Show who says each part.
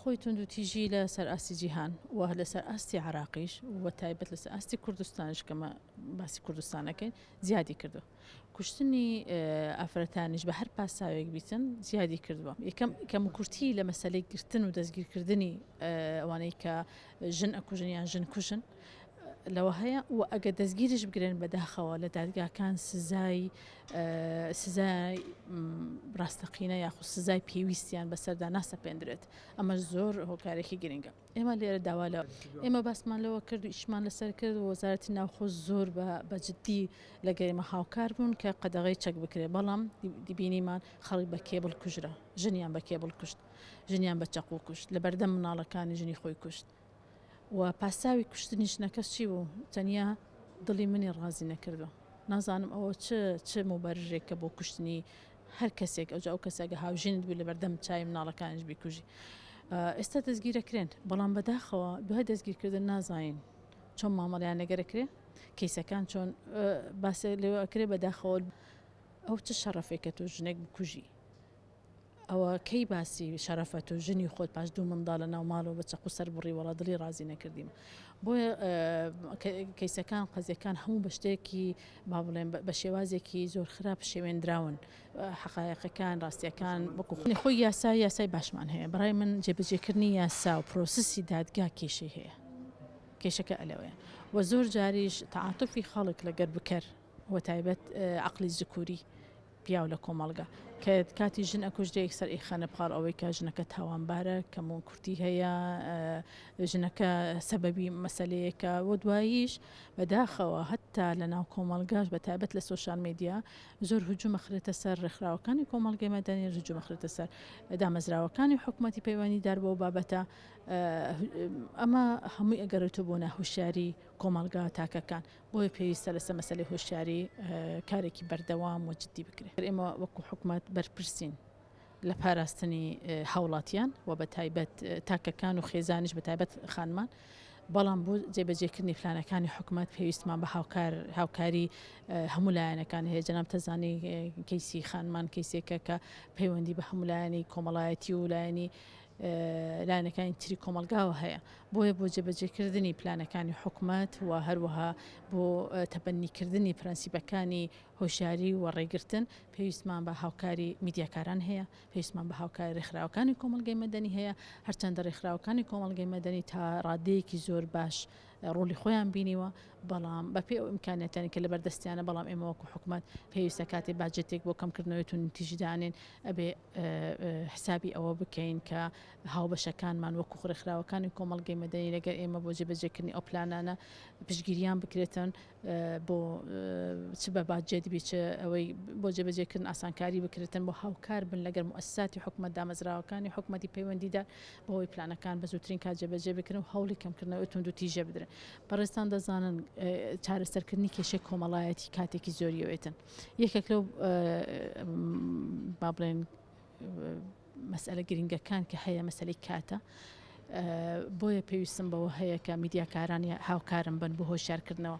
Speaker 1: خۆی توندوتیژی لە سەر ئاستی جیهان و لە سەر ئاستی عراقیش و تایبەت لە سەر ئاستی کوردستانش کە مە باسی کوردستان ئەکەین زیادی کردوە. کوشتنی ئافرەتانیش بە هەر پاساوێک بیتن زیادی کردوە. یەکەم کەموکورتی لە مەسەلەی گرتن و دەستگیرکردنی ئەوانەی کە ژن ئەکوژن یان ژنکوژن، لەوە هەیە و ئەگەر دەستگیریش بگرێن بەداخەوە لە دادگاکان سزای سزای ڕاستەقینە یاخود سزای پێویستیان بەسەردا ناسەپێندرێت ئەمە زۆر هۆکارێکی گرنگە ئێمە لێرە داوا لە ئێمە باسمان لەوە کرد و ئیشمان لەسەر کرد وەزارەتی ناوخۆ زۆر بە بەجددی لە گەریمە هاوکار بوون کە قەدەغی چەک بکرێت بەڵام دیبینیمان خەڵک بە کێبڵ کوژرا ژنیان بە کێبڵ کوشت ژنیان بە چەقو کوشت لە بەردەم مناڵەکانی ژنی خۆی کوشت و پاساوی کوشتنی ژنەکەش چی بوو تەنیا دڵی منی ڕازی نەکردوە نازانم ئەوە چ چ موبەرژێکە بۆ کوشتنی هەر کەسێک ئەوجا ئەو کەسەگە هاوژینت بوو لەبەردەم چای مناڵەکانش بیکوژی ئێستا دەستگیرەکرێن بەڵام بەداخەوە دوای دەستگیرکردن نازانین چۆن مامەڵیان لەگەرەکرێ کەیسەکان چۆن باسێ لێوەکرێ بەداخەوە ئەو چ شەڕەفێکە تۆ ژنێک بکوژی ئەوە کەی باسی شەرەفت و ژنی خۆت پاش دوو منداڵ لە ناو ماڵەوە بە چەقو سەر بڕی وەڵا دڵی ڕازی نەکردیم بۆیە کەیسەکان قەزیەکان هەموو بە شتێکی با بڵێن بە شێوازێکی زۆر خراپ شێوێنراون حقایەقەکان ڕاستیەکان وەکو خۆی خۆی یاسا یاسای باشمان هەیە بڕای من جێبەجێکردنی یاسا و پرۆسسی دادگا کێشەی هەیە کێشەکە ئەلەوەیە وە زۆر جاریش تعاتفی خەڵک لەگەر بکەر وەتایبەت عەقڵی زکوری پیاو لە کۆمەڵگا کە کاتی ژن ئەکوژرێ یەکسەر ئیخەنە پاڵ ئەوەی کە ژنەکە تاوانبارە کەمون کورتی هەیە ژنەکە سەبەبی مەسلەیەکە و دواییش بەداخەوە هەتا لە ناو کۆمەلگاش بە تابەت لە سوۆشال میدیا زۆر هجومەخرێتە سەر ڕێکخراوەکانی کۆمەلگەی مەدەنی هجومەخرێتە سەر دامەزراوەکانی حکوومەتتی پەیوەنی دار بۆ بابەتە ئەمە هەمووی ئەگەرێتە بۆ ناهوشاری کۆمەلگا تاکەکان بۆیە پێویستە لەسەر مەسەلەی هۆشیاری کارێکی بەردەوام و جددی بکرێت. ئێمە وەکو حکومەت بەرپرسین لە پاراستنی هاوڵاتیان و بە تایبەت تاکەکان و خێزانیش بە تایبەت خانمان بەڵام بۆ جێبەجێکردنی پلانەکانی حکومت پێویستمان بە هاوکار هاوکاری هەموو لایەنەکان هەیە جەناب تەزانی کەیسی خانمان کەیسێکە کە پەیوەندی بە هەمولایانی کۆمەڵایەتی و لایەنی لایەنەکانی تری کۆمەڵگاوە هەیە بۆیە بۆ جێبەجێکردنی پلانەکانی حکومەت و هەروەها بۆ تەبەنیکردنی پرەنسیبەکانی هۆشاری و ڕێگرتن پێویستمان بە هاوکاری میدیاکاران هەیە پێویستمان بە هاوکاری ڕێکخراوەکانی کۆمەلگەی مەدەنی هەیە هەرچەندە ڕێکخراوەکانی کۆمەلگەی مەدەنی تا ڕادەیەکی زۆر باش ڕۆلی خۆیان بینیوە بەڵام بەپێ ئەو ئیمکانەتەنی کە لە بەردەستیانە بەڵام ئێمەوەکو حکومت پێویستە کاتێ باجێتێک بۆ کەمکردنەوەی تون تیژدانێن ئەبێ حسابی ئەوە بکەین کە هاوبەشەکانمان وەکو ڕێکخراوەکانی کۆمەڵگەی مەدەنی لەگەر ئێمە بۆ جێبەجێکردنی ئەو پلانانە پشگیریان بکرێتن بۆ چ بە باجێت بی چ ئەوەی بۆ جێبەجێکردن ئاسانکاری بکرێتن بۆ هاوکار بن لەگەر موسساتی حکومت دامەزراوەکانی حکومەتی پەیوەندیدا بۆی پلانەکان بە زووترین کا جێبەجێ بکرن و هەوڵی کەمکردنەوەی تونند و تیژە بدرن بەڕێستان دەزانن چارەسەرکردنی کێشەی کۆمەڵایەتی کاتێکی زۆریەوەێتن یەکێک لەو با بڵێن مەسئلە گرنگەکان کە هەیە مەسلەی کاتە بۆیە پێویستم بەوە هەیە کە میدیاکارانی هاوکارم بن بۆ هۆشارکردنەوە